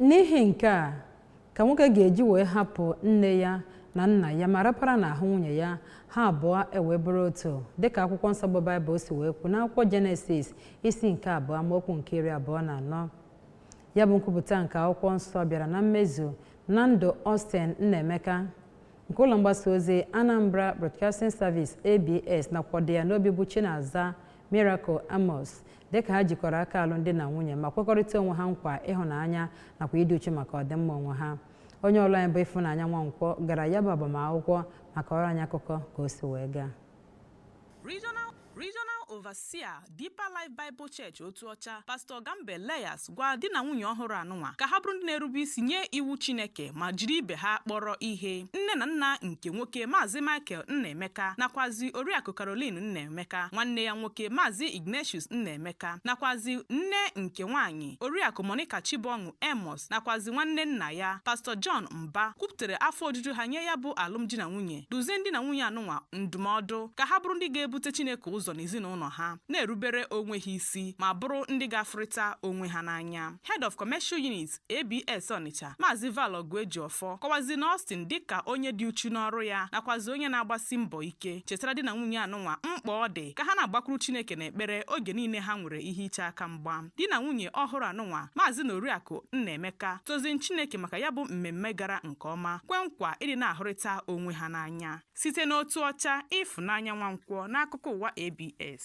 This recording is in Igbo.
N'ihi nke a ka nwoke ga-eji wee hapụ nne ya na nna ya ma rapara n'ahụ nwunye ya, ha abụọ ewee bụrụ otu, dịka akwụkwọ nsọ bụ Baịbụl si wee kwu n'akwụkwọ Jenesis isi nke abụọ amaokwu nke iri abụọ na anọ. Ya bụ nkwupụta nke akwụkwọ nsọ bịara na mmezu na ndụ Austin Nnaemeka nke ụlọ mgbasa ozi Anambra Broadcasting Service, ABS, nakwa okwu dị ya n'obi bụ Chinaza Miracle Amos dịka ha jikọrọ aka alụmdi na nwunye ma kwekọrịta onwe ha nkwa ịhụnanya nakwa ịdị uchu maka ọdịmma onwe ha onye ọrụ anyị bụ Ịfụnanya Nwankwọ gara ya bụ agbamakwụkwọ ma kọọrọ anyị akụkọ ka o si wee gaa Regional Overseer Deeper Life Bible Church Otuocha Pastor Gambe Leyas Gwa di na nwunye ọhụrụ anụnwa ka ha bụrụ ndị na-erube isi nye iwu Chineke ma jiri ibe ha kpọrọ ihe. Nne na nna nke nwoke Maazị Michael Nnaemeka nakwazi Oriakụ Caroline Nnaemeka, nwanne ya nwoke Maazị Ignatius Nnaemeka nakwazi nne nke nwaanyị Oriakụ Monica Chibọṅụ Amos nakwazi nwanne nna ya Pastọ John Mba kwupụtara afọ ojuju ha nye ya bụ alụmdi na nwunye, dụzie di na nwunye anụnwa ndụmọdụ ka ha bụrụ ndị ga-ebute Chineke ụzọ n'ezinụlọ ha, na-erubere onwe ha isi. isi ma bụrụ ndị ga-afụrịta onwe ha n'anya. Head of Commercial Unit, ABS Ọnịcha, Maazị Val Ọgụejiọfọ kọwaziri Austin dịka onye dị uchu n'ọrụ ya nakwazi onye na-agbasi mbọ ike chetara di na nwunye anụnwa mkpa ọ dị ka ha na-agbakwuru Chineke n'ekpere oge niile ha nwere ihe iche aka mgba. Di na nwunye ọhụrụ anụnwa, Maazị na Oriakụ Nnaemeka, toziri Chineke maka ya bụ mmemme gara nke ọma, kwe nkwa ịdị na-ahụrịta onwe ha n'anya. site n'Otuocha Ịfụnanya Nwankwọ n'akụkọ ụwa ABS.